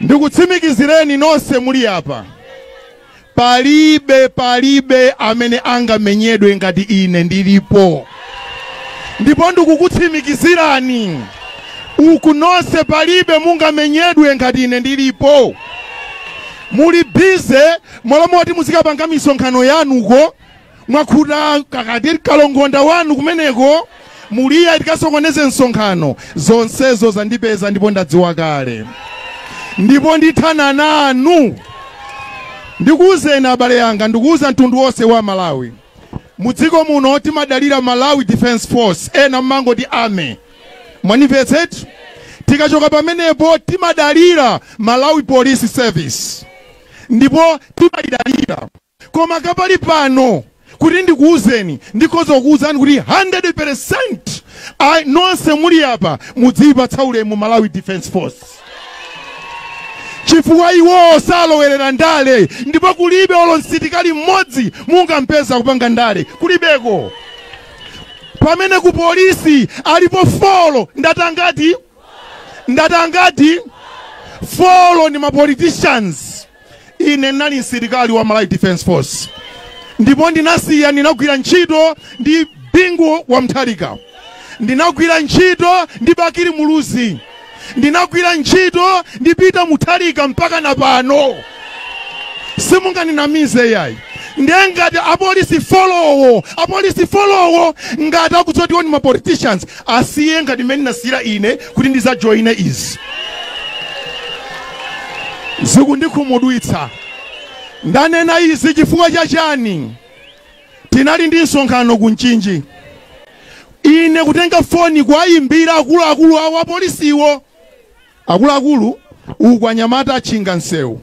Ndikutsimikizireni nonse muli apa, palibe, palibe amene angamenyedwe ngati ine ndilipo. Ndipo ndikukutsimikizirani uku nonse, palibe mungamenyedwe ngati ine ndilipo. Muli busy, m'malo moti muzikapanga misonkhano yanu uko. mwakhuta kachasu kalongonda wanu kumeneko muli ya tikasokoneze msonkhano zonsezo zandipeza ndipo ndadziwa kale ndipo ndithana nanu ndikuwuzeni abale anga ndikuwuza mtundu wonse wa malawi mu dziko muno timadalira malawi defense force ena mmangoti army mwanimvetsetu tikachoka pamenepo timadalira malawi police service ndipo timayidalira Koma kwa pakali pano, kuti ndikuuzeni, ndikhoza kukuuzani kuti 100 peresenti, nonse muli apa mudziipatsa ulemu Malawi Defense Force chifukwa iwowo salowerera ndale ndipo kulibe olo msitikali mmodzi mungampeza kupanga ndale kulibeko pamene ku polisi alipo folo ndati angati ndati angati folo ndi mapoliticians ine ndinali msilikali wa malawi defense force ndipo ndinasiya ndinagwira ntchito ndi bingu wa muthalika ndinagwira ntchito ndi bakili muluzi ndinagwira ntchito ndi peter muthalika mpaka na pano simunganinamize yayi ndiye ngati apolisi folowo apolisi folowo ngati akuziwa zoti iwo ni mapoliticians asiye ngati mmene nasiyira ine kuti ndizajoyine izi zikundikhumudwitsa ndanena izi chifukwa cha chani tinali ndi msonkhano ku mchinji ine kutenga foni kuwayimbira akuluakulu awo apolisiwo Akuluakulu, uku anyamata atchinga msewu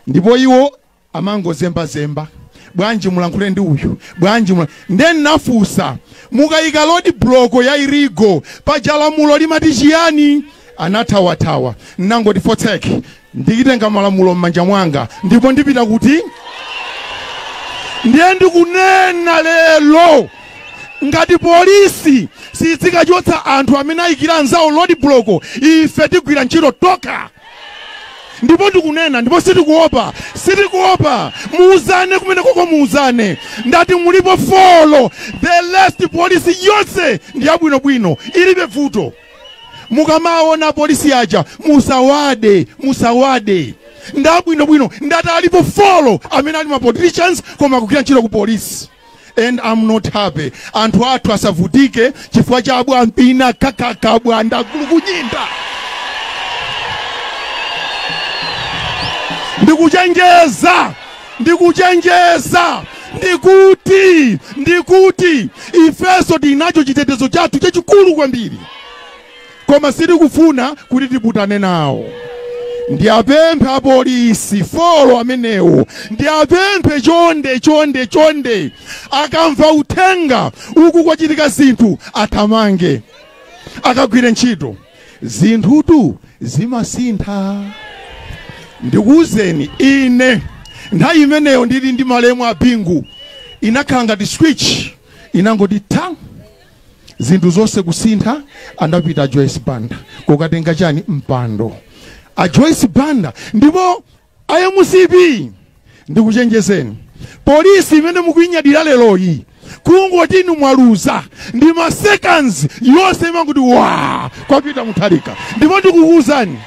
ndipo iwo amangozembazemba, bwanji mulankhule ndi uyu, bwanji mula. Nde nnafunsa, mukayika lodi buloko ya irigo paja lamulo limati chiyani? Anathawathawa. Nnangoti fotseki, nditenga malamulo mmanja mwanga ndipo ndipita kuti? Ndiye ndikunena lero. ngati polisi siikachotsa anthu amene ayikira anzawo road block ife tigwira ntchito tokha ndipo ndikunena ndipo sitikuopa sitikuopa muuzane kumene koko muuzane ndati mulipo folo the last polisi yonse ndi yabwinobwino ilibe vuto mukamaona polisi aja musawade musawade ndabwinobwino ndati alipo folo amene ali ma politicians koma akugwira ntchito ku polisi and am not happy anthu athu asavutike chifukwa cha abwampini kakaka bwanda akulukunyinda ndikuchenjeza ndikuchenjeza ndikuti ndikuti ifeso tinacho chitetezo chathu chachikulu kwambiri Koma sitikufuna kuti tiputane nawo. Ndiapemphe apolisi a Thyolo amenewo, ndiapemphe chonde chonde chonde, akamva uthenga uku kwachitika zinthu athamange akagwire ntchito. Zinthutu zimasintha. Ndikuuzeni ine nthawi imeneyo ndili ndi malemu a Bingu inakhala ngati switch inangoti tha. zinthu zonse kusintha anapita a joyce banda kukatenga chani mpando a joyce banda ndipo a mcp ndikuchenjezeni polisi imene mukuinyadira leroyi kungoti inu mwaluza ndi masekandi yonse imangoti wa kwapita mutharika ndipo ndikukuwuzani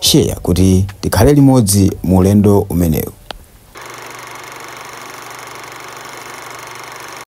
share kuti tikhale limodzi mu ulendo umenewu.